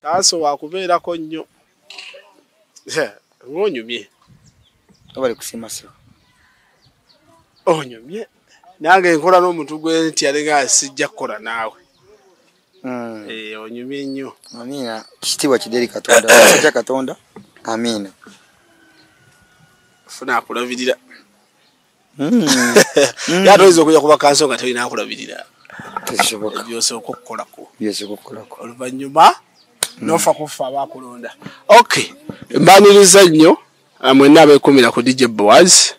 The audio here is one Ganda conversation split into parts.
taasa wakubeerako nnyo ngaonyumye abali kusimaseo onyumye nange nkola n'omuntu gwe nti yalinga sijja kukola naawe hmm. eh, onyumye nnyo amiina kitiibwa kideri katonda ja katonda amiina funa akulabirira hmm. hmm. yate oyinza okuja kuba kanso nga tolina akulabirira byosooka okukolako oluvanyuma hmm. nofa kuffa abakulonda ok mbaniriza nnyo ah, mwenna abekumira ku dj boaz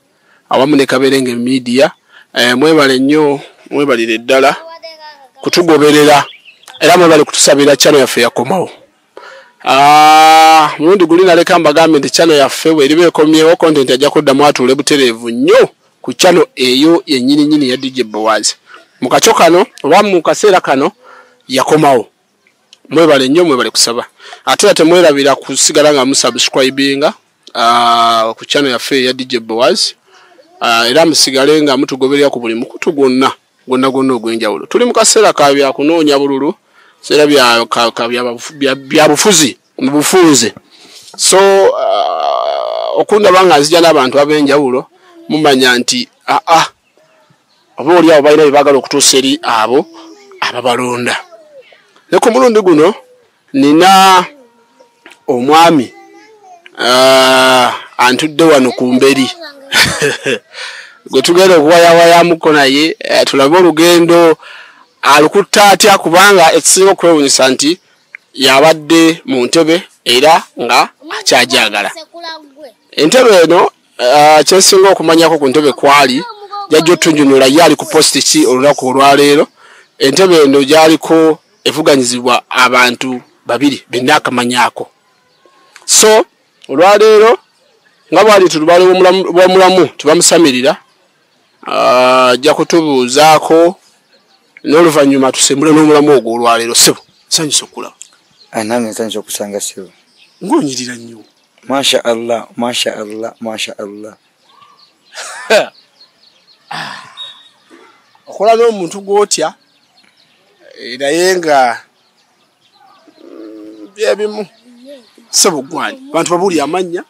awamu ne kaberenge media eh, mwebale nnyo mwebalire ddala kutugoberera era mwebale kutusabira chano yaffe yakomawo Ah, mulundi guli naleka mbagambye nti chano yaffe bweriba ekomyewo content ajja kuddamu atuule butereevu nnyo ku chano eyo yenyininyini ya dj bowazi mu kakyo kano oba mu kaseera kano yakomawo mwebale nnyo mwebale kusaba ate era temwerabira kusigala nga musubscribinga ah, ku chano yaffe eya dj bowazi ah, era musigale nga mutugoberera ku buli mukutu gwonna gonna gonna ogw'enjawulo tuli mu kaseera ka byakunoonya bululu seera byabufuzi mu bufunze so uh, okundaba nga nzija n'abantu ab'enjawulo mumanya nti aa ah, ah, oba oli abo balina bye baagala okutuusa eri abo ababalonda ne ku mulundi guno nina omwami uh, antudde wano ku mberi gwe tugenda okuwayawayamuko naye uh, tulabe olugendo alukutta atya kubanga ekisinga okwewunyisa nti yabadde mu ntebe era nga akyajagala entebe eno Ah, kyensinga okumanyako ku ntebe kwali jajja otunjunula ye ali ku posti ki olunaku olwaleero entebe eno gyaliko evuganyizibwa abantu babiri benna akamanyako so olwaleero nga bwali nti lubaale bwamulamu tebamusamirira ah, ajja kutubuuzaako n'oluvannyuma tusembule n'omulamu ogwo olwaleero sebo nsanyusa okulaba ah, nange nsanyusa okusanga sebo ngaonyirira nnyo Masha Allah, Masha Allah, Masha Allah. Okola no muntu gwotya eh, naye nga mm, byebimu sebo gwani bantu babuli amanya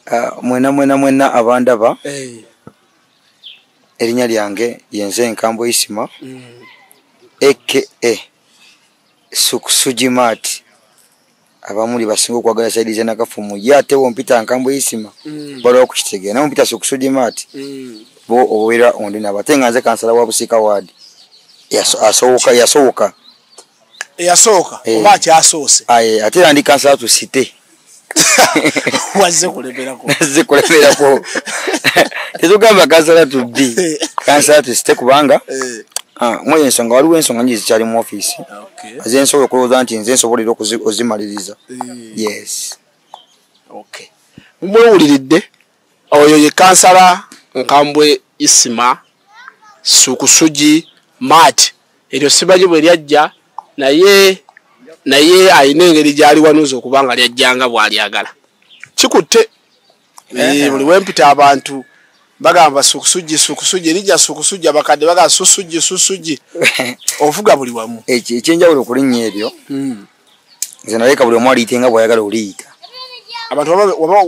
ah, mwena mwena mwena abandaba eh. erinya lyange yenze enkambo isima mm. aka sukusujimat abamu lye basinga okwagala saidi za nakafumu ye ate wompita nkambwe isima mm. balwa okukitegera nawe mpita sokusudima ati mm. bo owera ondi nabo ate nga nze kansala wa busika ward yasowoka yasowoka eyasooka eh. oba akyasoose aye ate era ndi kansala tu site wazze kulemerako wazze kulemerako tetugamba kansala tu bi eh. kansala tu site kubanga eh. ah, mweyo ensonga waliwo ensonga nyingi zikyali mu ofiisi ah, nze nsobola okulowooza nti nze nsobola era ozimaliriza eh. yes mwewuliridde oyo ye kansala nkambwe isima sukusugi mat eryo simanyi bwe lyajja naye naye alina engeri gyaliwanuuza okubanga lyajjanga bwalyagala kikutte Eh, buli wempita abantu bagamba sukusuji sukusuji erija sukusuji abakadde bagamba susuji susuji ovuga buli wamu ekyenjawulo okulinnya eryo hmm. nze naleka buli omu aliyite nga bwayagala oliyita abantu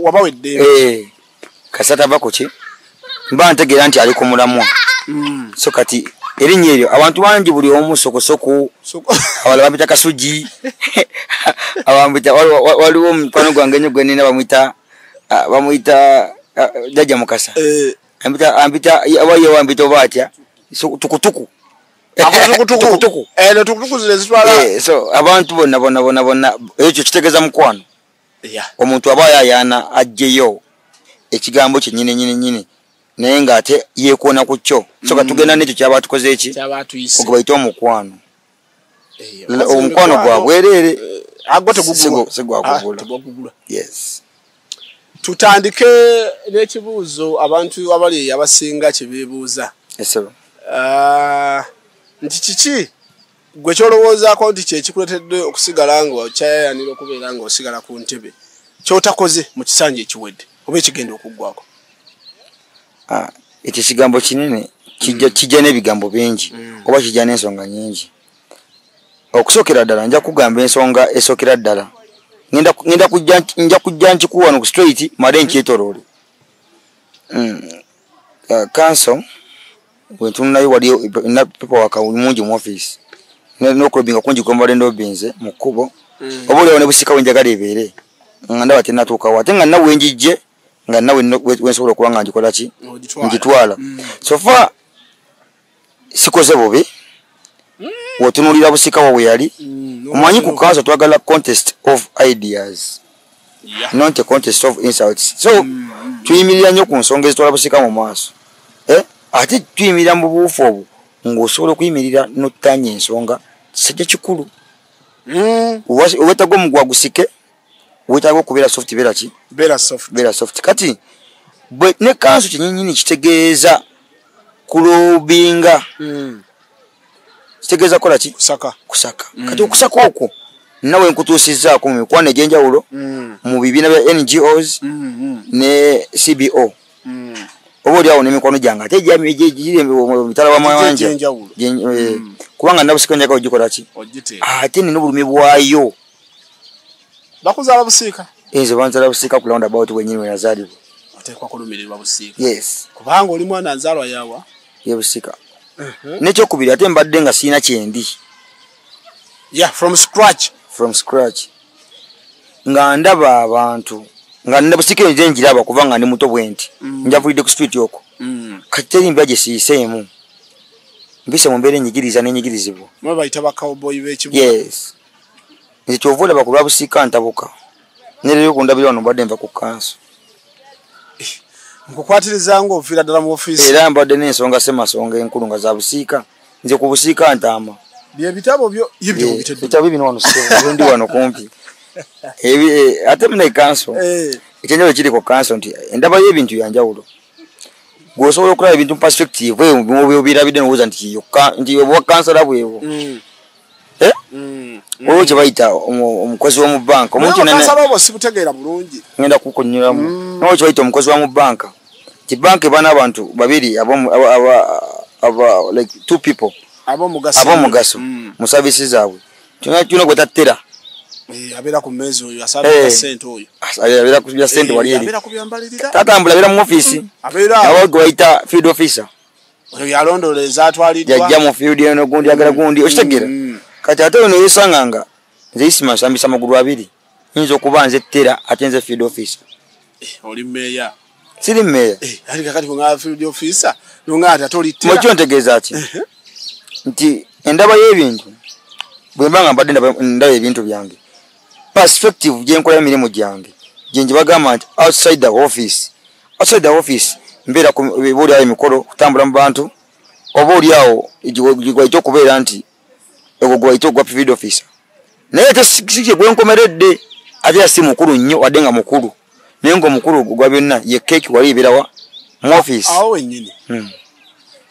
waba wedde eh, kasata va kuki mba ntegeera nti ali ku mulamwa hmm. so kati erinnya eryo abantu bangi buli omu sokosoku abala bapita kasuji abambita waliwo omukwano gwange nyo gwenina bamwita Ah, bamuyita ah, jajja mukasa eh. ampita ampita abaye wampita oba atya tukutuku tukutuku eh, eh, so abantu bonna bonna bonna bonna ekyo kitegeeza mukwano omuntu aba yayaana ajjeyo ekigambo kyenyini nyini nyini naye ng'ate yeekoona ku kyo so katugenda mm. n'ekyo kyaba tukoze eki okubaite omukwano L- omukwano gwa bwereere agwo tegugulwa sigwakugula tebagugula yes tutandike n'ekibuuzo abantu abali eyo abasinga kye beebuuza esebo Ah, nti kiki gwe kyolowoozaako nti kyekikuletedde okusigala nga okyayayanira okubeera nga osigala ku ntebe kyotakoze mu kisanja ekiwedde oba ekigenda okuggwako ah, ekyo ekigambo kinene kijja mm. n'ebigambo bingi mm. oba kijja n'ensonga nyingi okusookera ddala nja kugamba ensonga esookera ddala ngenda nja kujja nkikuwano ku straight male mm. nkyetoloole mm. ah, kanso wentununayo waliyo napepa wakamungi mu office nokulobinga kungi kwembadde ndobinze mu kkubo oba olyawo ne busika wenjagala ebeere nga ndaba tenatuukawo ate nga nawe njijje nga nawe wensobola okuba nga ngikola ki ngitwala mm. sofa sikoze bubi mm. wotunulira busika wawe yali mm, omanyi ku kanso twagala contest of ideas not a contest of insults so tuyimirira nnyo ku nsonga ezitwala busika mu maaso eh? ate tuyimirira mu buufu obwo ng'osobola okuyimirira notanya ensonga kisajja kikulu obwetagwa omugwa gusike wetaaga okubeera soft beera ki beera soft beera soft kati bwe ne kanso kyenyinyini kitegeeza kulobinga mm. kitegeeza kola ki kusaka kusaka mm. kati okusaka okwo nawe nkutuusizaako mu mikwano egyenjawulo mm. mu bibiina bya ngos mm, mm. ne cbo mm. oba oli awo nemikwano gyange ate mitala wa mawanja eh, mm. kubanga nabusikonjaka ogikola ki ate nina obulumi bwayo bakuzala busiika nze banzala busiika ku roundabout wenyini wenazalibwa oteekwa kulumirirwa busiika yes kubanga oli mwana nzalwa yawa ye busiika uh-huh. nekyokubiri ate mbadde nga siina kyendi yeah from scratch from scratch nga ndaba abantu nga nda busiika enze njiraba kuba nga ndi muto bwenti mm. njavulidde ku street okwo mm. kati teri mbya gyesiyiseemu mbise mu mbeera enyigiriza n'enyigirizibwa yes ekyova olaba ku lwabusiika ntabuka nereyo kundabira wano mbadde nva ku kanso eh, nkukwatiriza nga ofiira ddala mu ofiisi era mbadde n'ensonga semasonga enkulu nga za busiika nze ku busiika ntaama byebitabo byo yebitabo bino wano ndi wano kumpi eh, ate muna ekanso eh. ekyenjawulo kiri ku kanso nti endaba y'ebintu yanjawulo gwosobola okulaba ebintu mu perspective eyo byobirabidde nowooza nti kiyokka nti obwa kansala bwebwo mm. Eh? Mm. Wewe kyebayita omukozi wa mu banka omuntu sibutegeera bulungi ngenda kukunyulamu mm. nawe kyebayita omukozi wa mu banka ti banka ebana abantu babiri like two people abomugaso mm. mu savisi zaabwe tulina gwe tattera eh, abeera ku meezi oyo asabira eh. sente oyo abeera ku bya sente eh, wali eri tatambula abeera mu ofiisi abawe gwe bayita field officer oyo yalondoola ezatwaliddwa jajja mu field eno gundi agala mm. gundi okitegera mm. kati ate ono yesanga nga nze isima nsambisa amagulu abiri nyinza okuba nze tera ate nze field officer eh, oli meeya siri meeya eh, ati kakati nga field officer nonga ati ate oli tera mwekyo ntegeeza ki nti endaba y'ebintu bwemba nga mbadde ndaba ebintu byange perspective gyenkola emirimu gyange gyengi bagamba nti outside the office outside the office mbeera kubuulyawo emikolo kutambula mu bantu oba olyawo gwaite okubeera nti egwo gwaite ogwa field officer naye ate sikye gwenkomeredde ate yasi mukulu nnyo wadde nga mukulu naye nga omukulu ogwa byonna ye keeki wali eberawa mu office awo wenyini hmm.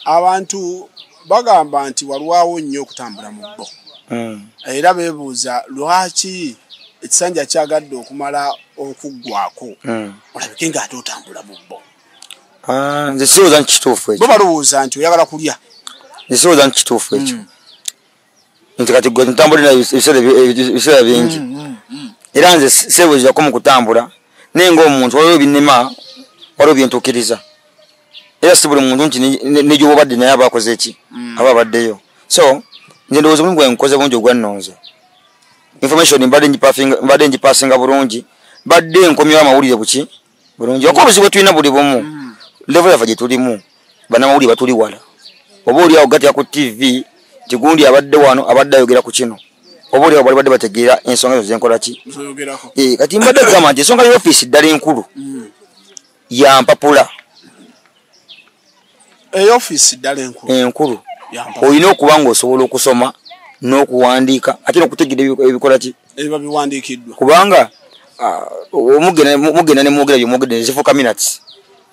abantu bagamba nti walwawo nnyo okutambula mu bbo hmm. era bebuuza lwaki ekisanja kyagadde okumala okuggwako hmm. olabike nga ate otambula mu bbo ah, nze sirowooza nti kituufu ekyo bo balowooza nti oyagala kulya nze sirowooza nti kituufu ekyo hmm. nti kati gwe ntambulira ebiseera bingi mm, mm, era nze seebuzirako mu kutambula naye ngaomuntu waliwo ebinema waliwo byentukiriza era si buli muntu nti negyobubadde naye aba akoze ki aba abaddeyo so nze ndowooza omulimu gwange nkoze bungi ogwannonze information mbadde ngipasinga bulungi mbadde nkomyewo amawulire buki bulungi oka obuzibu bwetulina buli bumu mm. levo yafa gyetulimu banamawulire batuli wala oba oli awo gatya ku tv tigundi abadde wano abadde ayogera ku kino oba oli awo bali badde bategeera ensonga ezo zenkola ki eh, kati mbadde kugamba nti ensonga ya ofiisi ddala enkulu mm. yampapula eyo office dala enkulu enkulu oyina okuba ngo osobola okusoma n'okuwandiika ate n'okutegeera ebikola ki ebiba biwandiikiddwa kubanga ah, mugenda nemwogera byomwogedde nezifuuka minats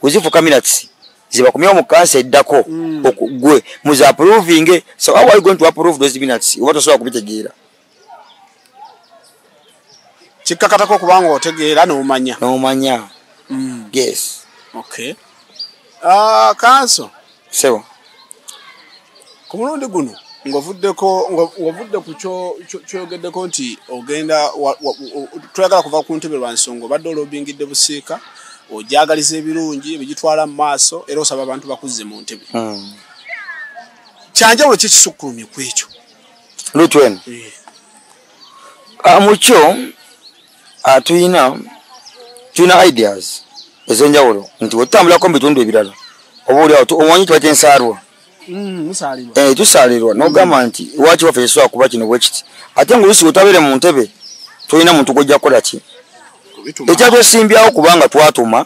wezifuuka minats zibakumyewo mu kansa eddako mm. gwe muziaprovinge so how are you going to approve those minats oba tosobola kubitegeera kikkakatako okuba nga otegeera n'omanya n'omanya mm. yes okay ah, kanso sebo ku mulundi guno ng'ovuddeko ng'ovudde ku kyoyogeddeko nti ogenda twagala kuva ku ntebe lwa nsonga obadde olobingidde busiika ojagaliza ebirungi ebigitwala mu maaso era osaba abantu bakuzze mu ntebe hmm. kyanjawulo kyekisukkulumye ku ekyo lutwen ah, mukyo ah, tuyina tulina ideas ezenjawulo nti wetutambulako mu bitundu ebirala oba oli awo omanyi kiba kyensaalwa mm, eh, tusaalirwa nogamba mm. nti waki waffe yesobola kuba kino bwekiti ate nga olusi wetabeere mu ntebe tolina muntu gwojja kukola ki ekyatwesimbyawo kubanga twatuma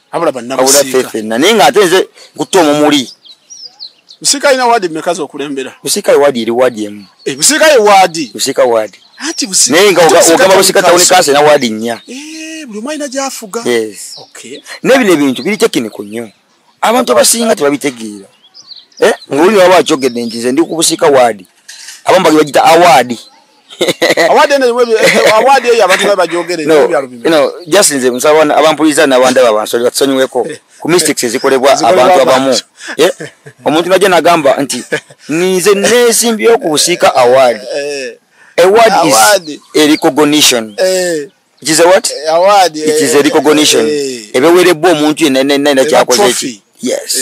abula banabusikaabulafefena naye nga ate nze nkutte omumuli busika alina waadi meka zokulembera busika ewaadi eri waadi emu eh, busika ewaadi busika waadi anti busika naye nga ogamba busika tawuni kansa ena waadi nnya eh, buli omu alina gyafuga naye bino ebintu biri tekiniko nnyo abantu abasinga tebabitegeera eh, ngaoli waba akyogedde nti nze ndi ku busika waadi abamu bali bagita award award ene mwe eh, award eyo abantu baba jogere no, bya lubimbi you know just nze musaba na abampuliza na banda baba so that sonyi weko ku mistakes ezikolebwa abantu abamu eh omuntu naje nagamba nti nize nesi mbyo kusika award eh award is a recognition eh it is a what eh, award it is a eh, recognition eh, ebewerebwa omuntu yenna yenna yenna kyakoze eki yes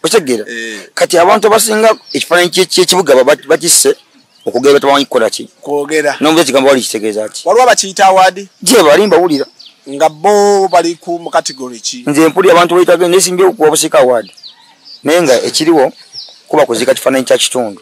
okitegera kati abantu abasinga ekifaananyi kyekibuga bakisse okugera batamanyi kukola ki kwogera nomuza ekigambo wali kitegeeza ki waliwo abakiyita award gye bali mbawulira nga bo bali ku mu category ki nze mpulira abantu bayitaga nesimbye okuwa busika award naye nga ekiriwo kuba kuzika kifaananyi kya kitundu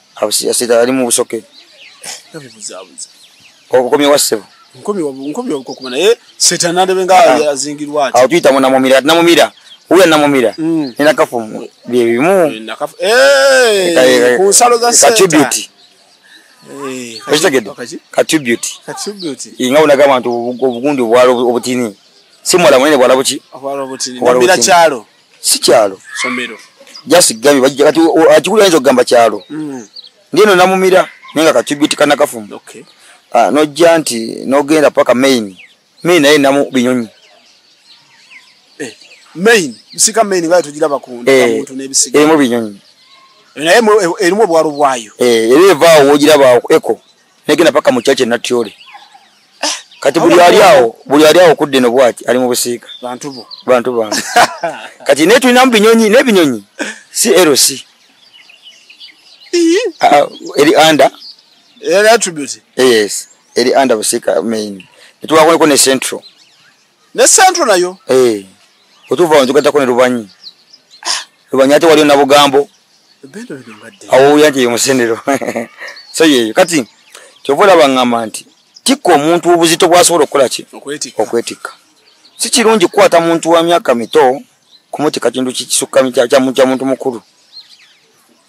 abusiyasita ali mu busoke nabibuzabuza obukomye wa ssebo nkomye nkomye okukuma naye setani alebe nga ah. azingirwa ati awo tuyita munamumira ati namumira uwe namumira mm. nina kafu bye bimu ku nsalo za setani okitegedde katribute nga unaga abantu obugundi obutini si mwala munene bwala buki obwala obutini si kyalo somero just gabi bajja kati akikulu ayinza okugamba kyalo mm. ndieno namumira naye nga katubiti kanakafumu okay. uh, ah, nojja nti nogenda paka main main naye namu binyonyi eh, main bisika main nga tugira bakunda eh, kamuntu nebisika erimu binyonyi naye erimu obwalo bwayo eh, era evaawo wogira bawo eko negenda paka mu church natyole eh, kati buli ali awo buli ali awo kudde no bwati ali mu busiika bantu bo bantu ba kati ne tulina mu binyonyi ne binyonyi si erosi ah, eri anda eri attribute yes eri anda busiika main tuwakone ko ne central ne central nayo eh otuva onjuka takone rubanyi lubanya ate waliyo nabugambo awowuya nti yemusenero so yeyo kati kyova olaba ngamba nti tikka omuntu obuzito bwasobola okukola ki okwetikka si kirungi kukwata muntu wa myaka mito kumutika kintu kikisukka kya muntu mukulu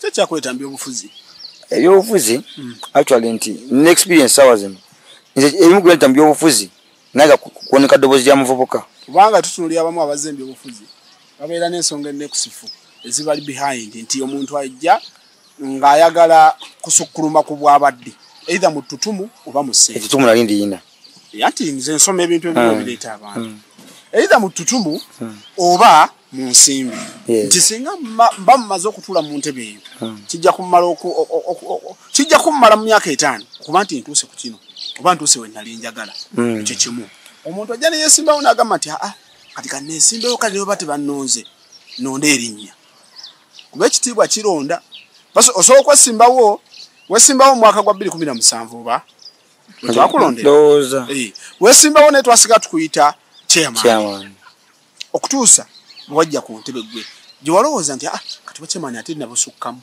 kyekyakuletambi obufuzi ebyobufuzi hmm. actually nti nexperience sawa zino nze ebimu kuletambi obufuzi naye nga kuwoneka ddoboozi lya muvubuka kubanga tutunulira abamu abazze mubyobufuzi babeera n'ensonga ennekusifu ezibali behind nti omuntu ajja ng'ayagala kusukkuluma ku bwabadde eitha mu ttutumu oba mu sseetutumu nali ndiyina anti nze nsoma ebintu ebimu hmm. ebireeta abantu hmm. eitha mu ttutumu hmm. oba mu nsimbi nti singa mba mumaze okutuula mu ntebe eyo hmm. kijja kumala kijja kummala mu myaka etaano okuba nti ntuuse ku kino oba ntuuse we nali njagala hmm. ekyo kimu omuntu ajja neyesimbawo nagamba nti aa kati kanesimbewo kale neba tebannonze nonda erinnya kuba ekitiibwa kironda osobola okwesimbawo wesimbawo omwaka gwa bbiri kumi na musanvu oba wetwakulondera wesimbawo naye twasiga tukuyita chairman okutuusa wajja ku ntebe gwe gye walowooza nti ah, katuba kyemani ate nabusukkamu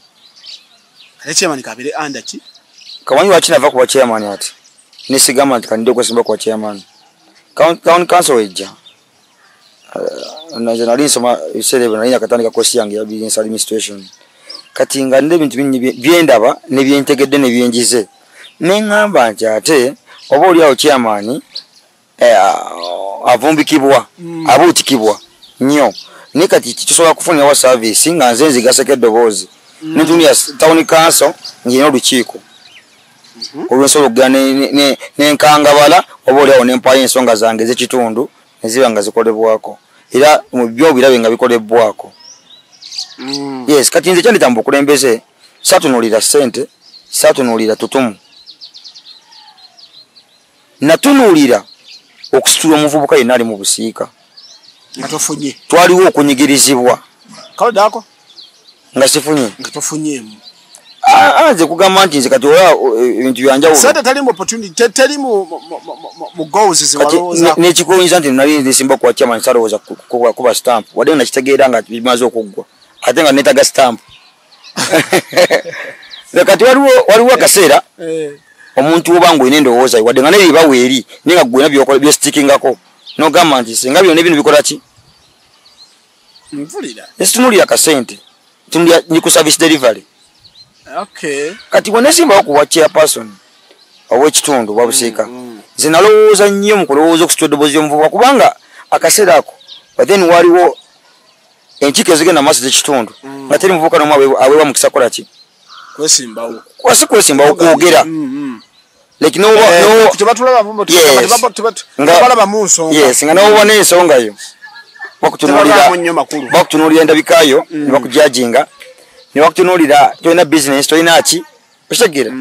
ate kyemani kabere anda ki kawanyi waki nava kuba kyemani ati nesigamba nti kanide okwesimba kuba kyemani town council ejja uh, nze nali nsoma ebiseera ebyo nali nakatandika kosi yange ya business administration kati nga nina ebintu bingi byendaba nebyentegedde nebyenjize neŋŋamba nti ate oba oliawo kyamaani Eh, avumbikibwa mm. abuutikibwa nnyo naye kati tusobola kufunira wa saavisi nga nze nzigaseko eddoboozi mm. netundi ya tawuni kanso ngirina olukiiko mm-hmm. olwensobola okugera nenkangabala oba oliawo nempaayo ensonga zange ezekitundu neziba nga zikolebwako era mubyo birabe nga bikolebwako mm. yes kati nze kyandita mubukulembeze satunulira sente satunulira tutumu natunuulira okusitula omuvubuka yenna ali mu busiika nga tofunye twaliwo okunyigirizibwa kalodako nga sifunye nga tofunyemu ah, ah, nze kugamba nti nze kati ola eh, ebintu byanjawulonekikoyinza nti nali nsimba kuwa chairman salowooza kuba stamp wadde nga nakitegeera nga bimaze okuggwa ate nga netaga stamp kati waliwo waliwo akaseera eh. omuntu oba nga olina endowooza wadde nga naye ebawo eri naye nga gwena byokola byositikingako nogamba nti singa byona ebino bikola ki nvulira esitunulira kasente tunulira ni ku service delivery okay kati wenesimbawo ku wa chairperson ow'ekitundu oba busiika mm, mm. nze nalowooza nnyo mu kulowooza okusitula eddoboozi y'omuvubuka kubanga akaseera ako but then waliwo enkiko ezigenda maaso zekitundu mm. nga teri muvubuka nomu awewa mukisa kukola ki kwasi kwesimbawo kwogera mm, mm. Eh, nga nowoba nensonga yo bakutunulira endabika yo nebakujajinga nebakutunulira tolina business tolina ki okitegeera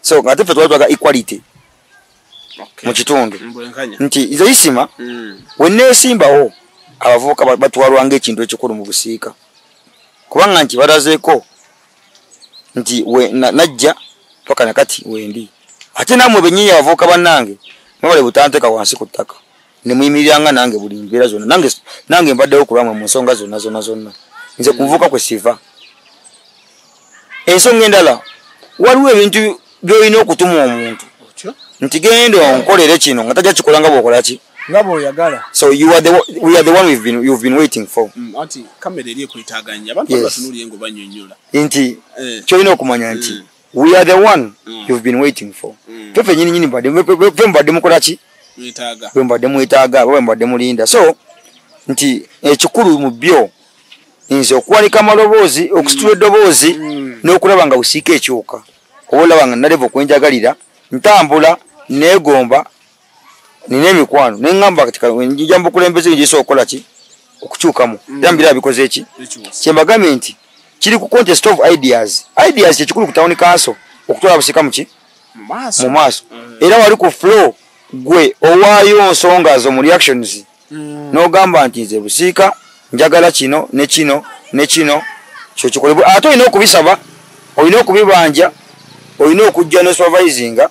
so nga tefe twali twaga equality mu kitundu nti nze isima mm. weneesimbawo abavubuka batwalwa ngaekintu ekikulu mu busiika kubanga nti balazeeko nti najja paka nakati wendi ate namwe benyini abavubuka bannange mwebale butanteeka wansi ku ttaka nemuyimiriranga nange buli mbeera zonna nange nange mbaddewo kulwamwe mu nsonga zonna zonna zonna nze kuvuka kwe siva ensonga endala waliwo ebintu byolina okutuma omuntu nti genda onkolere kino nga tajja kikola nga bwokola ki nga bwoyagala so you are the, we are the one we've been, you've been waiting for mm, anti kamera eri ekwetaganya abantu yes. batunuliye ngo banyonyola nti eh. kyolina okumanya nti mm. we are the one mm. you've been waiting for mm. fefe nyini nyini mbadde fe mbadde mukola ki bwe mbadde mwetaaga bwe mbadde mulinda so nti ekikulu mu byo nze okuwanika amaloboozi okusitula mm. eddoboozi mm. n'okulaba nga busiika ekyuka oba olaba nga naleva okwenjagalira ntambula neegomba nina emikwano naye ngamba kati njija mubukulembeze njisa okukola ki okukyukamu mm. era mbira abikoze ki kyembagambye nti kiri ku contest of ideas ideas kyekikulu ku town council okutwala busika muki mu maaso mm. era wali ku flow gwe owaayo nsonga zo mu reactions mm. n'ogamba nti nze busiika njagala kino ne kino ne kino kyo kikolebwa ate olina okubisaba olina okubibanja olina okujja ne supervisinga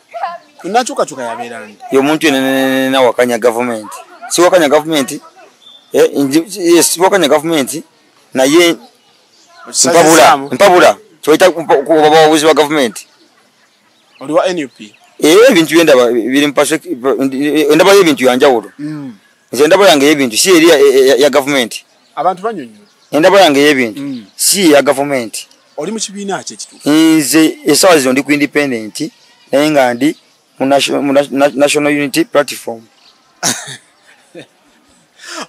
nakyukakyuka yabeerani ye omuntu yenenena wakanya gavumenti siwakanya gavumenti eh, eh, siwakanya gavumenti naye mpabula mpabula kyoyita obabawabuzi wa gavumenti oliwa nup eh, ebintu byendaba biri ndabayo ebintu yanjawulo mm. nze ndaba yange yebintu si eri ya gavumenti abantu banyonyola endaba yange yebintu mm. si eya gavumenti oli mu kibiina ki ekituufu nze esawa zino ndi ku independent naye nga ndi mu national unity platform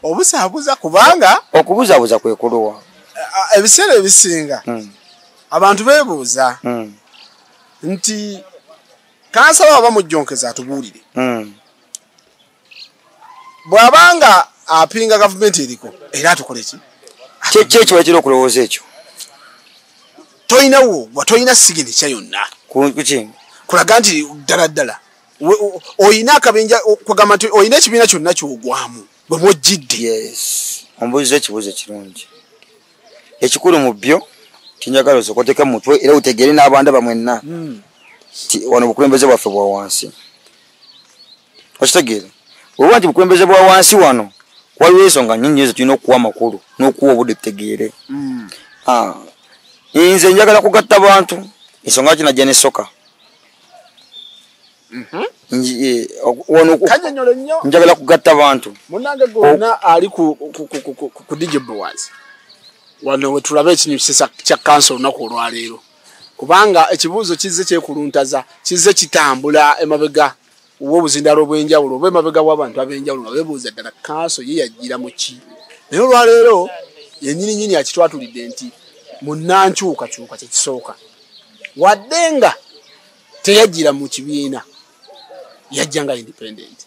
obusabuza kubanga okubuzabuza kwekuluwa ebiseera ebisinga mm. abantu bebuuza mm. nti kansaba aba mujjonkeza atubuulire bw'aba nga apinga gavumenti eriko era atukole ki kyekyo ekiba kira okulowooza ekyo tolinawo wa tolina siginikya yonna kuki kulaga nti ddala ddala olina akabinja kugamba nti olina ekibiina kyonna kyogwamu bwe mwojjidde yes ombuuza ekibuuzo kirungi ekikulu mu byo tinjagala osokoteke mu mutwe era utegeere n'abanda bamwenna hmm. ti wano obukulembeze bwaffe bwa wansi okitegeera olwoba nti bukulembeze bwa wansi wano waliwo ensonga nyingi nyo zetulina okuwa amakulu n'okuwa obudde tutegeere mm. ah, nze njagala kugatta bantu ensonga lwaki najja nesoka mhm. eh, njagala kugatta bantu munange gona oh. ali ku digibwas wano wetulaba ekinyu kisesa kya kansa olunaku olwaleero kubanga ekibuuzo kizze kyekuluntaza kizze kitambula emabega w'obuzindaalo obw'enjawulo oba emabega w'abantu ab'enjawulo nga bebuuza ddala kanso ye yajjira mu ki naye olwaleero yenyini nyini akitwatulidde nti munnankyukakyuka kyekisooka wadde nga teyajjira mu kibiina yajja nga independent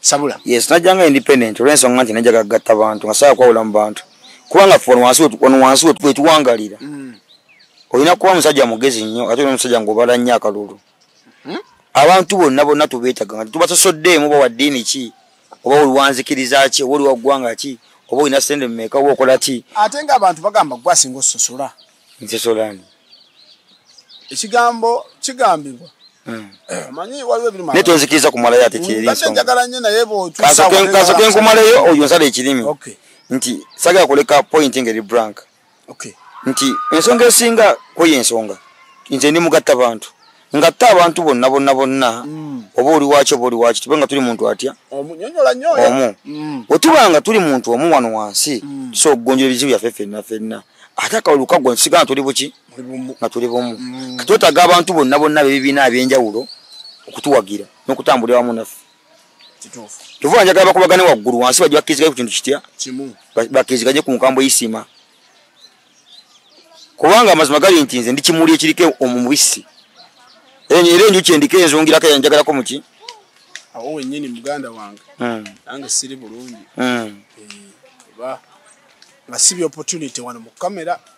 sabula yes najja nga independent olw'ensonga nti najja gagatta bantu nga saala kwawula mu bantu kubanga fe wano wansi wetuwangalira mm. olina kuba musajja mugezi nnyo ate olina omusajja ngaobala nnyo akalulu hmm? abantu bonna bonna tubeetaga nga tubasosoddeemu oba wa ddiini ki oba oliwanzikiriza ki oba oliwa ggwanga ki oba olina sente mumeeka oba okola ki ate nga abantu bagamba gwe asinga ososola nsosolani ekigambo kigambibwa hmm. naye tonzikiriza kumalayo ate kyerinsokasoke nkumaleyo oyo nsala ekirimi nti sagala kuleka point ngeri branka nti ensonga esinga kweyo ensonga nze ndi mugatta bantu ngatte abantu bonna bonna bonna mm. oba oli waki oba oli waki tube nga tuli muntu atya omu wetuba mm. nga tuli muntu omu wano wansi mm. tusobola okugonjera ebizibu byaffe fenna fenna ate akawuli kukagwa nsiga nga tuli buki nga tuli bumu katwetaga abantu bonna bonna bebibiina abyenjawulo okutuwagira n'okutambulira wamu naffe tuvuga njagala bakubagane waggulu wansi bajja bakkiriziganye ku kintu kitya bakkiriziganye ku nkambo isima kubanga amazima gali nti nze ndi kimuli ekiriko omubisi era enjuki endiko enzungirako enjagalako muki awo wenyini muganda wange hmm. nange siri bulungi hmm. eh, nga sibi opportunity wano mu kamera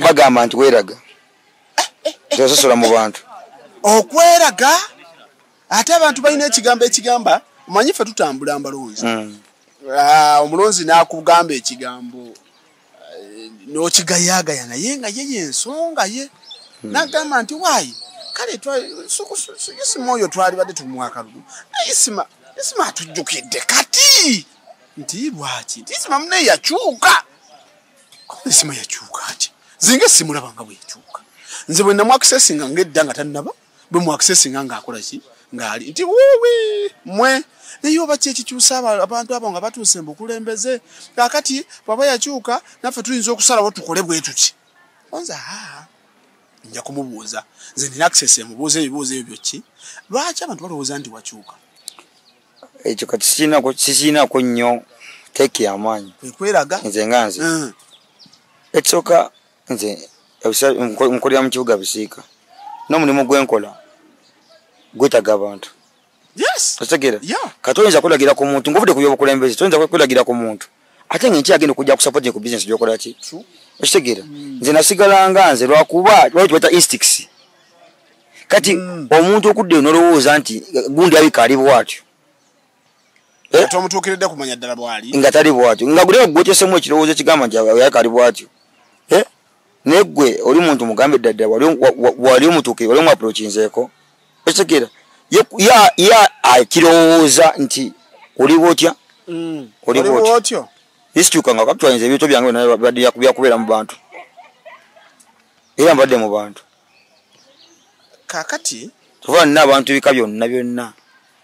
bagamba nti weraga tososola mu bantu okweraga ate abantu balina ekigambo ekigamba omanyi ffe tutambula mbalonzi hmm. ah, omulonzi nakugamba ekigambo eh, nokigayagaya naye nga ye yensonga ye hmm. nagamba nti wayi kale isima oyo twalibadde tumwakalulu naye isima isima atujjukidde kati nti lwaki nti isima munaye yakyuka ensima yakyuka ati zinga esimulaba nga bweyakyuka nze bwe namwakisesinga ngaedda nga tannaba bwe mwakisesinga ngaakolaki ngaali nti wuwi mwe naye oba ki ekikyusa abantu abo nga batuuse mbukulembeze kakati bwaba yakyuka naffe tuyinza okusalawo tukole bwe tuti onza haa nja kumubuuza nze nina access emubuuza ebibuuzo ebyo byoki lwaki abantu balowooza nti wakyuka ekyo kati sikiinako nnyo teeki yamaanyi ekweraga nze nga nze mm. ekisooka nze nkolera mu kibuga bisiika n'omulimu gwenkola gwetaga abantu otegeera kati oyinza kwelagira ku muntu ngaovudde ku byobukulembeze toyinza kwelagira ku muntu ate nga enkya agenda okujja kusapotinga ku bizinesi gyokola ki okitegeera hmm. nze nasigalanga nze lwakuba lwali kibaita instix kati hmm. omuntu okudda eyo nolowooza nti gundi abika ali bwatyo eh? tomutuukiridde kumanya ddala bwali nga tali bwatyo nga guleo gwotesemu ekirowoozo ekigamba nti yaka ali bwatyo eh? naye gwe oli muntu mugambe ddadda wali omutuukire wali omuaprokinzeeko otegera ya akirowooza nti oliba otya mm. oliba otya nisikyuka nga kapitwainza ebintu byange byakubeera mu bantu era mbadde mu bantu kakati tuva nina abantu bika byonna byonna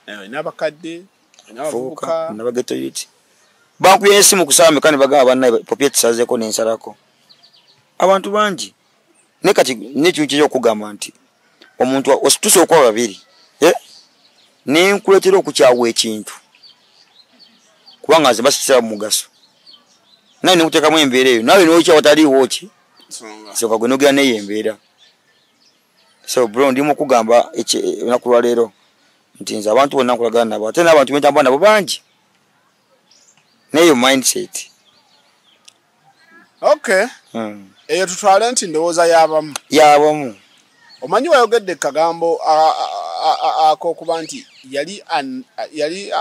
eh, nabakadde nabavubuka nabagetoyiti bankuya esimu kusaba mekani bagaba banna popye tusazeeko nensalako abantu bangi naye kati nekintu kyeja okugamba nti omuntu ositusa okuba babiri eh? nenkuletera okukyawa ekintu kubanga nze basitira mugaso naye nekutekamu embeera eyo nawe nokya wataliiwo ki soka gwe nogera neyo embeera so bro ndi mukugamba olunaku lwaleero nti nze abantu bonna nkolagana nabo ate nabantu bentamba nabo bangi naye yo mindset okay hmm. eyo tutwale nti ndowooza yabamu yabamu omanyi wayogedde kagambo akokuba nti yali yali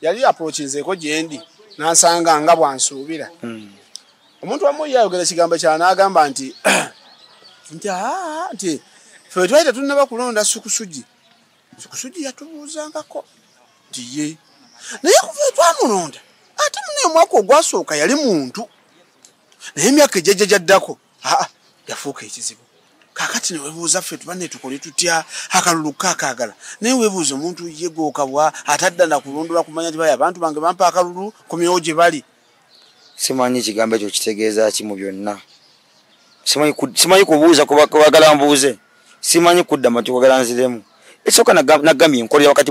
yali aprokinzeeko gyendi nansanga nga bwansuubira hmm. omuntu wamu yayogera ekigambo kya naagamba nti nti nti fe twali tetunnaba kulonda sukusugi kusudi yatubuuzangako nti ye naye kuva twamulonda ate muna omwaka ogwasooka yali muntu naye emyaka ejjajja gyaddako aa yafuuka ekizibu kakati newebuuza ffe tuba netukole tutya akalulu kakaagala naye webuuza omuntu ye gwokabwa ate adda nakulondola kumanya nti baya abantu bange bampa akalulu kumyewo gye bali simanyi ekigambo ekyo kitegeeza ki mu byonna simanyi kubuuza kubagala mbuuze simanyi kudda mati kwagala nziremu ekisooka nagambye nkolera wakati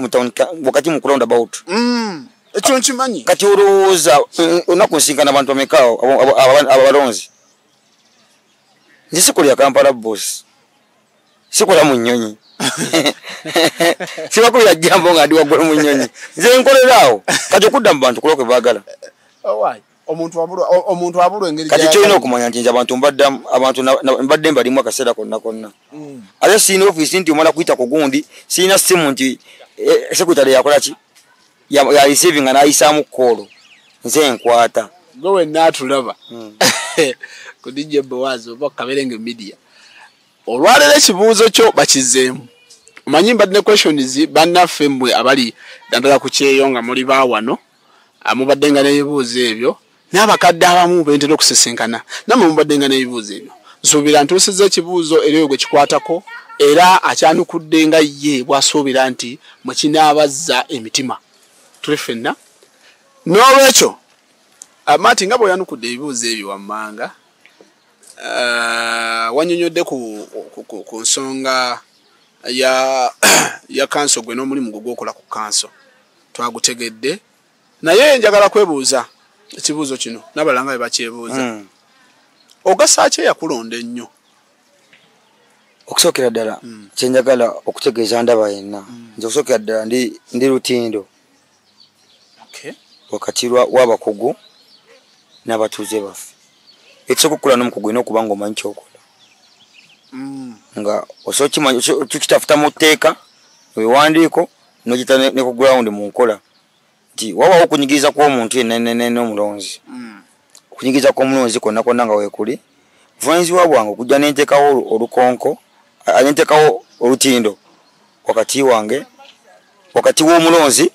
wakati mu round about mm, ekyo nkimanyi kati olowooza eh, onaku nsinkana abantu bamekaawo abalonzi nze sikolera kampala bosi sikola mu nnyonyi sibakubira jambo nga ndi waggulu mu nnyonyi nze nkoleraawo kati okudda mu bantu kulokwe baagala oh, omuntu abulwa engeri kati kyolina okumanya nti nze abantu mbaddamu abantu mbadde mbalimu akaseera konna konna mm. ate sirina ofiisi nti omala kuyita ku gundi sirina simu nti eh, sekutale yakola ki yarisiving nga nayisaamu koolo nze enkwata gwe wenna atulaba hmm. kudijja bowazi oba kaberenge media olwaleero ekibuuzo kyo bakizeemu omanyi mbadde ne questions bannaffe mmwe abali naddala ku kyeyo nga muli baawano ah, mubadde nga n'ebibuuzo ebyo n'abakadde abamu bentera okusisinkana namwe mubadde nga n'ebibuuzo ebyo nsuubira ntuusiza ekibuuzo era oyo gwe kikwatako era akyanukudde nga ye bw'asuubira nti mwe kinaabazza emitima tuli ffenna n'olwekyo ah, maati nga bw'oyanukudde ebibuuzo ebyo wammanga eh, wanyonyodde ku, ku, ku, ku nsonga ya, ya kanso gwe n'omulimu gwe gwokola ku kanso twagutegedde naye njagala kwebuuza ekibuuzo kino nabalanga be bakyebuuza mm. ogasaaki eyakulonda ennyo okusookera ddala mm. kyenjagala okutegeeza ndaba yenna mm. nze okusookera ddala ndi, ndi lutindo wakati w'abakugu n'abatuuze baffe ekisooka okukola n'omukugu olina okuba nga omanyi kyokola mm. nga osookitafuta mu tteeka ewandiiko nogita ne ku gulawundi mu nkola nti wabawo okunyigiriza kw'omuntu yenenenene omulonzi mm. okunyigiriza kw'omulonzi kwonna kwonna nga weekuli buvanyizibwa bwange okujja nentekawo olukonko nentekawo olutindo wakati wange wakati w'omulonzi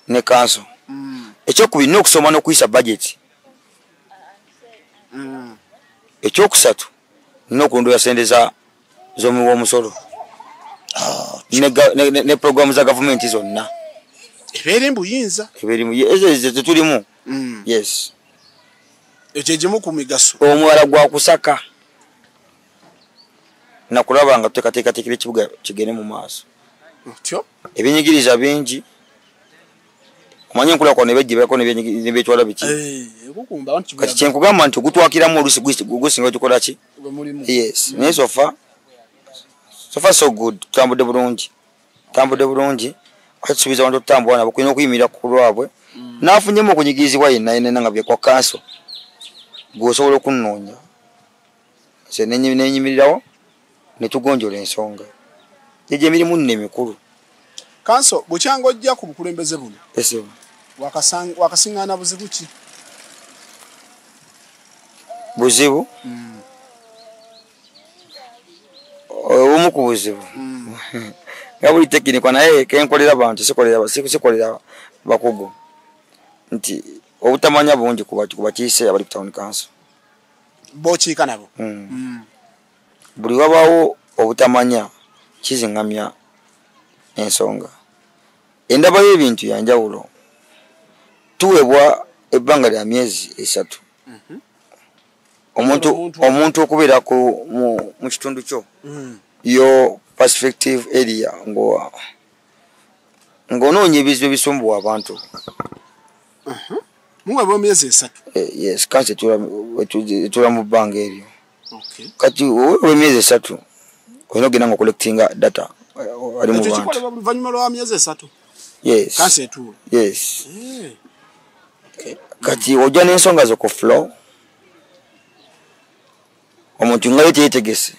ne kanso mm. ekyokubiri nina okusoma n'okuyisa bajeti mm. ekyokusatu nina okulondoola sente z'omu w'omusolo ah, ne programu za gavumenti zonna ebeera embuyinza ebeera embuyinza ezo ezo tetulimu mm. yes ekyo egimu ku migaso omuwala gwa kusaka nakulaba nga tuteekateekateekera ekibuga kigende mu maaso otyo ebinyigiriza bingi omanyi enkula kwa nebejjibako nebyetwala biki eh, kati kyenkugamba nti ogutwakiramu olusi gusinga tukola ki yes naye sofa sofa so good tutambudde bulungi tambude bulungi atusubiza abantu tutambula nabo kulina okuyimirira ku lwabwe mm. nafunyemu okunyigirizibwa yenna yenena nga byekwa kanso gweosobola okunoonya nze nenyimirirawo netugonjola ensonga egyo emirimu nno emikulu kanso bukyanga ojja ku bukulembeze buno wakasiŋŋaana buzibu ki buzibu mm. obumu ku buzibu hmm. nga buli tekinikwa naye kenkolera bantu sikolera bakugu nti obutamanya bungi kubakiise abali ku town council bokiika nabo hmm. Hmm. buli wabawo obutamanya kizingamya ensonga endaba y'ebintu yanjawulo tuweebwa ebbanga lya myezi esatu mhm. omuntu omuntu okubeera ku mu kitundu kyo mm. yo perspective area ngo ng'onoonya ebizibu ebisumbuwa abantu uh-huh. muweba emyezi esatu eh, yes kansi etula mu bbanga eryo kati owewa emyezi esatu olina ogenda nga collectinga data eh, ali mu bantu oluvanyuma lwa myezi esatu yes kansi etuula yes eh. kati ojja n'ensonga zo ku flow omuntu ngayo teyetegese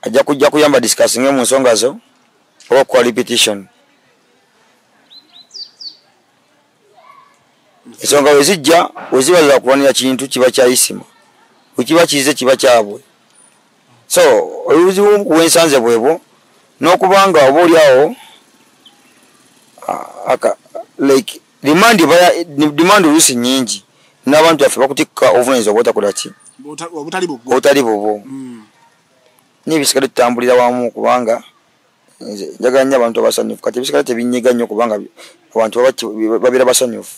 ajja kujja kuyamba discussinge mu nsonga zo oba okukola repetition ensonga we zijja weziba zakulwanira kintu kiba kyayisima wekiba kize kiba kyabwe so oluzibu wensanze bwebwo nokubanga oba oliawo ah, like demand baya demand olusi nyingi nabantu baffe bakutikka obuvunanyizibwa bwotakolaki obutali bubwo hmm. nebisigale tutambulira wamu kubanga njagala nyo abantu abasanyufu kati ebisigala tebinyiga nyo kubanga abantu babeera basanyufu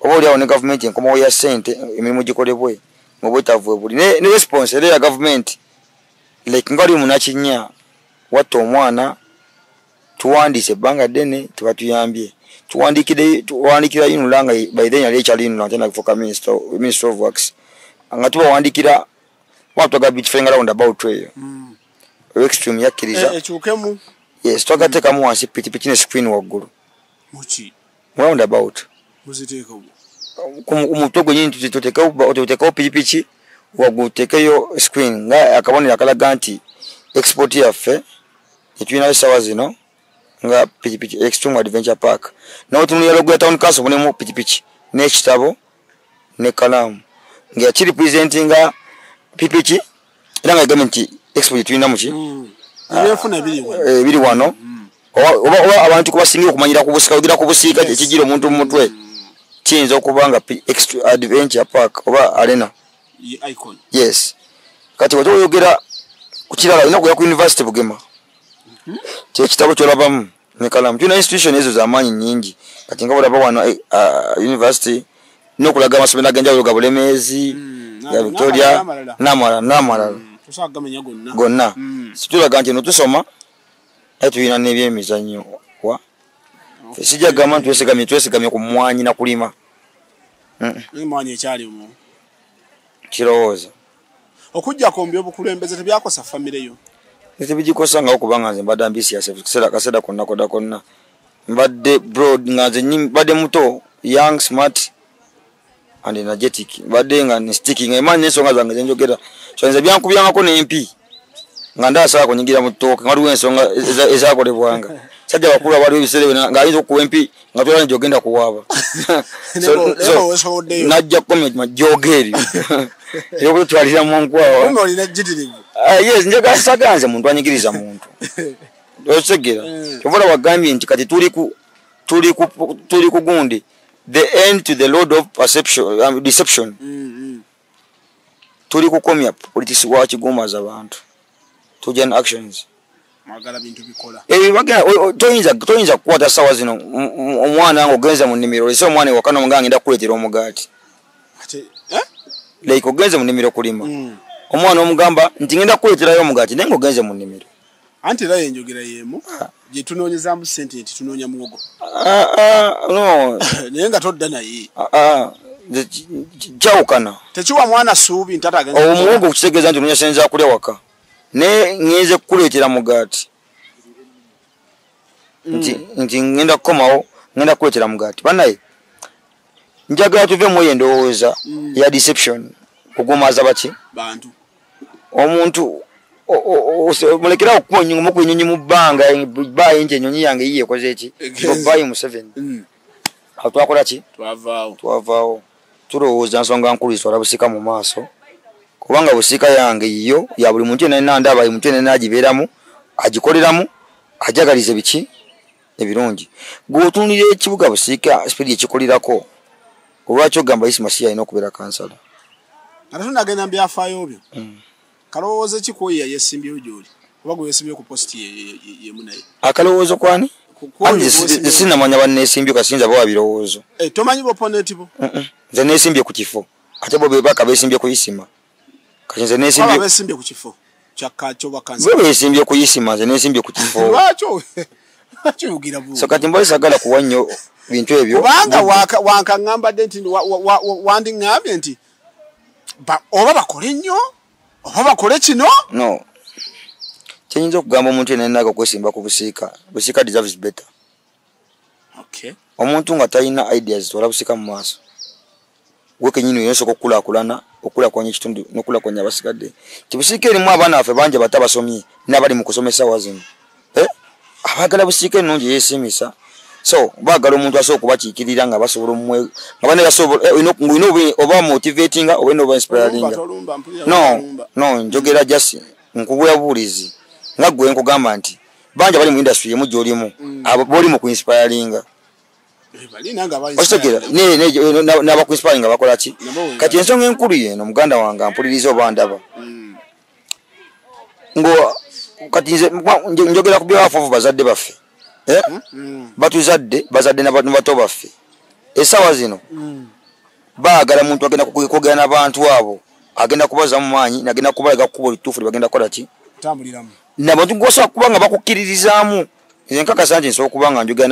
oba oliawo ne gavumenti enkomawo ya sente emirimu gikolebwe mubwetavu ebuli ne response era ya gavumenti like nga oli munakinya watta omwana tuwandiise ebbanga ddene tebatuyambye tuwandikira yinula nga by then yali ekyali yinula nte nafuka minister of works nga tubawandikira watwaga bitufenga round about eyo mm. extreme yakkiriza eh, yes twagatekamu wansi pikipiki ne screen waggulu muki round about muziteeka mu ku mutwe gwenyini tuteekawo pikipiki wagutekeyo screen nga akabonero akalaga nti export yaffe etulinayo esawa zino nga pikipiki extreme adventure park nawe tunulira logo ya town council bunemu pikipiki n'ekitabo ne kalaamu nga yakiripresentinga pipi ki era nga yagambye nti expo gye tulina muki mm. eh, biri wano mm. oba abantu kubasingira okumanyira ku busika ogira ku busiika kyekijira omuntu mu mutwe mm. kiyinza okuba nga extra adventure park oba arena yes kati wati oyogera ku kirala olina kuya ku university bugema mm-hmm. kyekitabo kyolabamu ne kalamu tulina institution ezo zamaanyi nyingi kati nga bulaba wano eh, ah, university nokulaga amasomero agenjawulo ga bulemeezi hmm, ga victoria namala namalala hmm, gonna hmm. situlaga nti notusoma naye tulina nebyemizanyo wa sijja gamba nti twesigamye twesigamye ku mwanyi nakulima kirowooza okujjako mbyobukulembeze tebyakosa famire yo tebigikosa nga okuba nga nze mbadde ambisiase kiseera kaseera konna koda konna mbadde broad nga nze mbadde muto young smart and energetic mbadde nga nstiki nga emaanyi nensonga zange zenjogera so nze byankubyangako nempi nga ndaasala kunyigira mu ttooke nga waliwo ensonga ezakolebwanga sajja bakulu abaliwo ebiseera byona nga ayinza okukuba empi nga tolani gyogenda kuwaaba najja koma joga eryo eyokututwalira mu nkwawanjagala saganze muntu anyigiriza muntu okitegera mm. ovola wagambye nti kati tuli ku gundi the end to the load of perception um, deception mm, mm. tuli kukomya politics wa kigumaza bantu tuja na actions mwagala bintu bikola eh bagala toyinza toyinza kukwata sawa zino omwana ngo genza mu nimiro lese omwana wakana omuganga nda kuletera omugati ate eh like ogenze mu nimiro kulima mm. omwana omugamba nti ngenda kuletera yo omugati nengo genze mu nimiro anti era yenjogera yemu gyetunoonyezamu sente nti tunoonya muwogo ah, ah, naye nga todda naye ah, kyawukana tekiwa mwana suubi ntatagmuwogo okukitegeeza nti onoonya sente zakulya waka naye ŋenze kukuleetera mugaati mm. nti ŋenda kukomawo ŋenda kukuleetera mugaati banaye njagala tuve muyo endowooza mm. ya deception ogumaaza baki bantu omuntu mulekerawo okunyuma ku enyonyi mu bbanga bayi nti enyonyi yange yiye ekoze eki bayi museveni mm. awo twakola ki twavaawo tulowooza nsonga nkulu zitwala busika mu maaso kubanga busika yange yiyo ya buli muntu yenanandaba muntu yenana agibeeramu agikoleramu ajagalize biki ebirungi gweotunulira ekibuga busiika sipidi ekikulirako olwaki ogamba isi masiya alina okubeera kansala ate tunagenda mu byafaayo byo hmm. kalowooza ki kwoyo yayesimbyewo gyoli oba gwe yesimbyewo ku positi yemu naye akalowoozo kwani sinamanya banesimbye kasinza bawa birowoozo eh, tomanyi boponeti bo nze nesimbye ku kifo ate bo bebaka besimbye ku isima kati nze nesimbye aba besimbye ku kifo kyakakyo bakansi gwe besimbye ku isima nze nesimbye ku kifo lwakyo lwakyo yugira bu so kati mboyi sagala kuwa nnyo bintu ebyo kubanga wankaŋambadde nti wandiŋambye nti oba bakole nnyo oba bakole kino no kyenyinza okugamba omuntu yenayinaga okwesimba ku busiika busiika deserves better okay. omuntu nga talina ideas twala busika mu maaso gwe kenyini yensooka okukulakulana okulakulanya ekitundu nokulakulanya abasigadde tibusiika erimu abaana baffe bangi bata basomye nabali mu kusomesa wazimu eh? abagala busiika ennungi yesimisa so bagala omuntu asobola okubakiikirira nga basobola omwe nga bane basobola eh, olina oba motivatinga oba olina oba inspiralinga no no njogera jasi nkubuya buwulizi nga gwe nkugamba nti banja bali mu industry yemu jolimu mm. abo boli mu inspiring eh, okitegera naba ku inspiring abakola ki kati ensonga enkulu yeno muganda wange ampuliriza oba ndaba mm. ngo kati nze njogera ku byawafuvu bazadde baffe eh? hmm? mm. batuzadde bazadde nabato baffe esawa zino baagala muntu agenda kwogera nabantu abo agenda kubazamu maanyi nagenda kubalaga kukuba olutuufu lyebagenda kukola ki nabantu gwosobola kuba nga bakukkiririzaamu nze nkakasa nti nsobola kuba nga njogera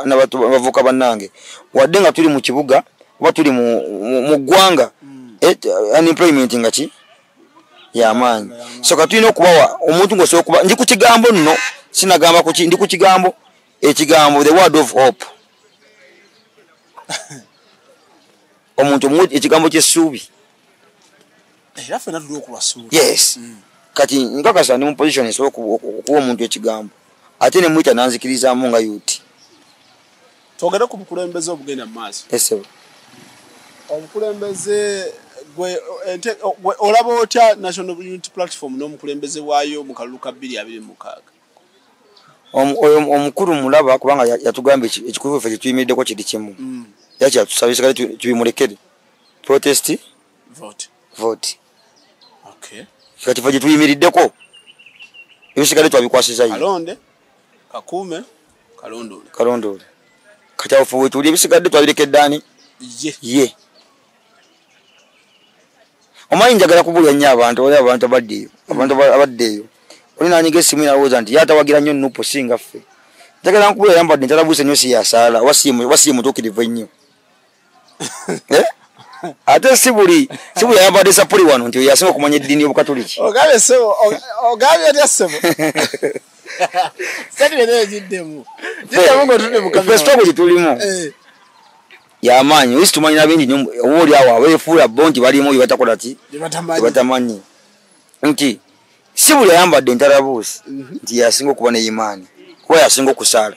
nabavuka bannange wadde nga tuli mu kibuga oba tuli mu ggwanga hmm. eh, unemployment nga ki yamaanyi so ka tulina okubawa omuntu ngaosobola okuba ndi ku kigambo nno sinagamba kuki ndi ku kigambo ekigambo the word of hope omuntu ekigambo kyessuubi era fena tulina okubasuula yes mm. kati nkakasa ndi mu position esobola okuwa omuntu ekigambo ate ne muyita nanzikirizaamu nga yuti twogere ku bukulembeze obugenda mu maaso esebo obukulembeze gwe olaba otya national unity platform n'omukulembeze waayo mu kalulu ka bbiri abiri mukaaga oyo omukulu mulaba kubanga yatugamba ekikulu ffe kyetuyimiriddeko kiri kimu mm. yakyatusabisikale tubimulekere protesti vote okay kati vaje tuyimiriddeko ebisigale twabikwasiza yye alonde kakuume kalondole kalondole kati awo fuwe tuli ebisigadde twabirekeddaani ye ye omanyi njagala kubulya nnyo abantu oli abantu abadde eyo abantu abadde eyo oli nanyiga esimu nalowooza nti yatawagira nnyo nupu singa ffe njagala nkubula yambadde ntalabuuse nnyo siyasaala wasiye mutuukirivu ennyo eh? ate si buli si buli ayambadde sapuli wano nti yasinga okumanya eddiini y'obukatuliki ogabye sebo ogabye otya sebo sati bene egiddemu giddemu ng'otudde mukafesitogo gye tulimu eh. yamaanyi oyisi tumanyi na bingi nyo oba oli awo abeefuula bo nti balimu bye batakola ki batamanyi nti si buli ayambadde entarabuusi mhm. nti yasinga okuba ne imaani kuba yasinga okusaala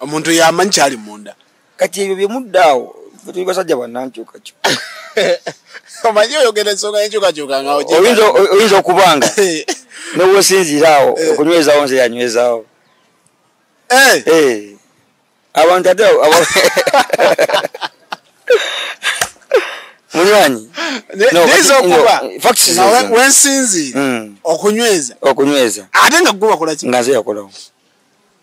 omuntu yamanyi kyali munda kati ebyo byemuddaawo tuli basajja banankyukakyu omanyi oyogera ensonga yenkyukakyuka nga oyinza okubanga newosinziira awo eh. okunywezaawo nze yanywezaawo eh. eh. abantu ate munywanyi wensinziira hmm. okunyweza okunyweza ate nga gwe wakolaki nga nze yakolawo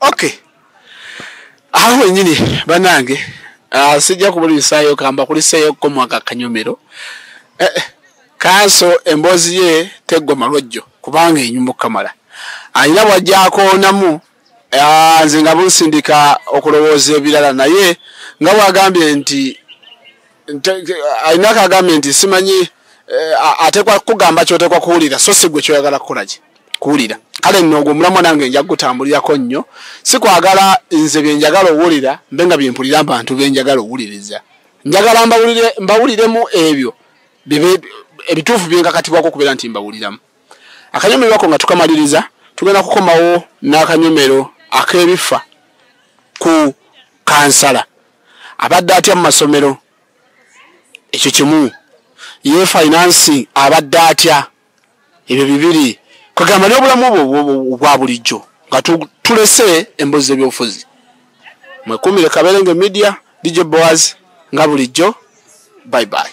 okay awo wenyini banange uh, ah, sijja kubulisayo kamba kuliseyo komwaka kanyomero eh, eh, kanso emboozi ye teggwa malwajjo kubanga enyumba okukamala alina bwajjakoonamu ah, nze nga bunsindika okulowooza ebirala naye nga bwagambye nti alina kagambye nti simanyi eh, atekwa kugamba kyotekwa kuwulira so sigwe kyoyagala kukolaki kuwulira kale nno ogwo omulamwa nange nja kugutambulirako nnyo sikwagala nze byenjagala owulira mbe nga byempulira abantu byenjagala owuliriza njagala mbawuliremu ebyo ebituufu byenkakatibwako okubeera nti mbawuliramu akanyomero ako nga tukamaliriza tugenda kukomawo n'akanyomero ak'ebifa ku kansala abadde atya mu masomero ekyo kimu ye finance abadde atya ebyo bibiri kwegamba n'obulamu obwo obwa bulijjo nga tulese embozi z'ebyobufuzi mwekumire kaberenge media dj boas nga bulijjo bye bye